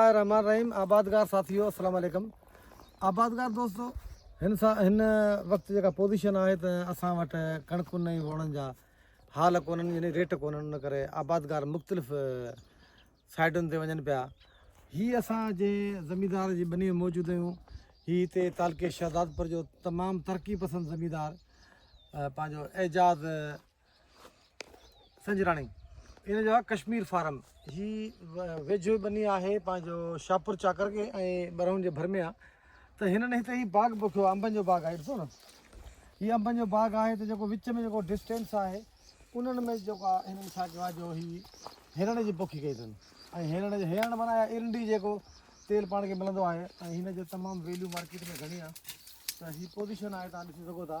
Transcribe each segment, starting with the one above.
الله الرحمٰن الرحيم آبادگار ساٿيو السلام عليڪم آبادگار دوستو هن سان هن وقت جيڪا پوزيشن آهي ته اسان وٽ ڪڻڪن ۽ ووڻن جا حال ڪونهن يعني ريٽ ڪونهن ان ڪري آبادگار مختلف سائيڊن تي وڃن پيا هي اسان جنهن زميندار جي ٻني موجود آهيون هي هتي تعلقي شهزادپور جو تمام ترقي پسند زميندار پنهنجو اعجاز سنجراڻي ان جو آ ڪشمير فارم جي ويجهو بني آهي پنهنجو شاپور چاڪر کي ۽ برهون جي ڀر ۾ آ ته هنن هتي هي باغ پوکيو آ انبن جو باغ آهي ڏسو نه هي انبن جو باغ آهي ته جيڪو وچ ۾ جيڪو ڊسٽينس آهي انهن ۾ جيڪو آ هنن ڇا ڪيو آ جو هي هرڻ جي پوکي ڪئي اٿن ۽ هرڻ جي هرڻ معنيٰ آهي ارنڊي جيڪو تيل پاڻ کي ملندو آهي ۽ هن جو تمام ويليو مارڪيٽ ۾ گهڻي آ ته هي پوزيشن آهي تان ڏسي سگهو ٿا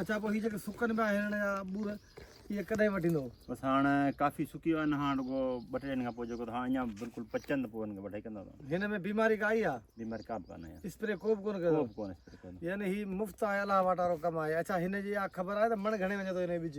اچا پوء هي جيڪي سڪن پيا هرڻ يا ٻور اهي ڪڏهن وڍيندو بس هاڻ ڪافي سڪي ويا آهن هاڻ رڳو ٻه ٽي ڏينهن کان پوء جيڪو هاڻ اڃا بلڪل پچن ته پوء هن کي وڍائي ڪندا هن ۾ بيماري ڪا آئي آهي بيماري ڪا به ڪانه آئي اسپري ڪو به ڪونه ڪيو ڪو به ڪونه اسپري ڪونه يعني هي مفت آهي الله واٽارو ڪم آهي اچا هن جي اها خبر آهي ته مڻ گهڻي وڃي ٿو هن جو ٻج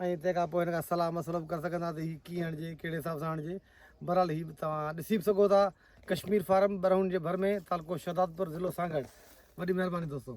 ۽ تنهن کان پوء هن کان صلاح مشورو به ڪري سگهندا ته هي ڪيئن هڻجي ڪهڙي حساب سان هڻجي بهرحال هي به توهان ڏسي به سگهو ٿا ڪشمير فارم برهون جي ڀر ۾ تعلقو شهدادپور ضلعو سانگهڙ وڏي مهرباني دوستو.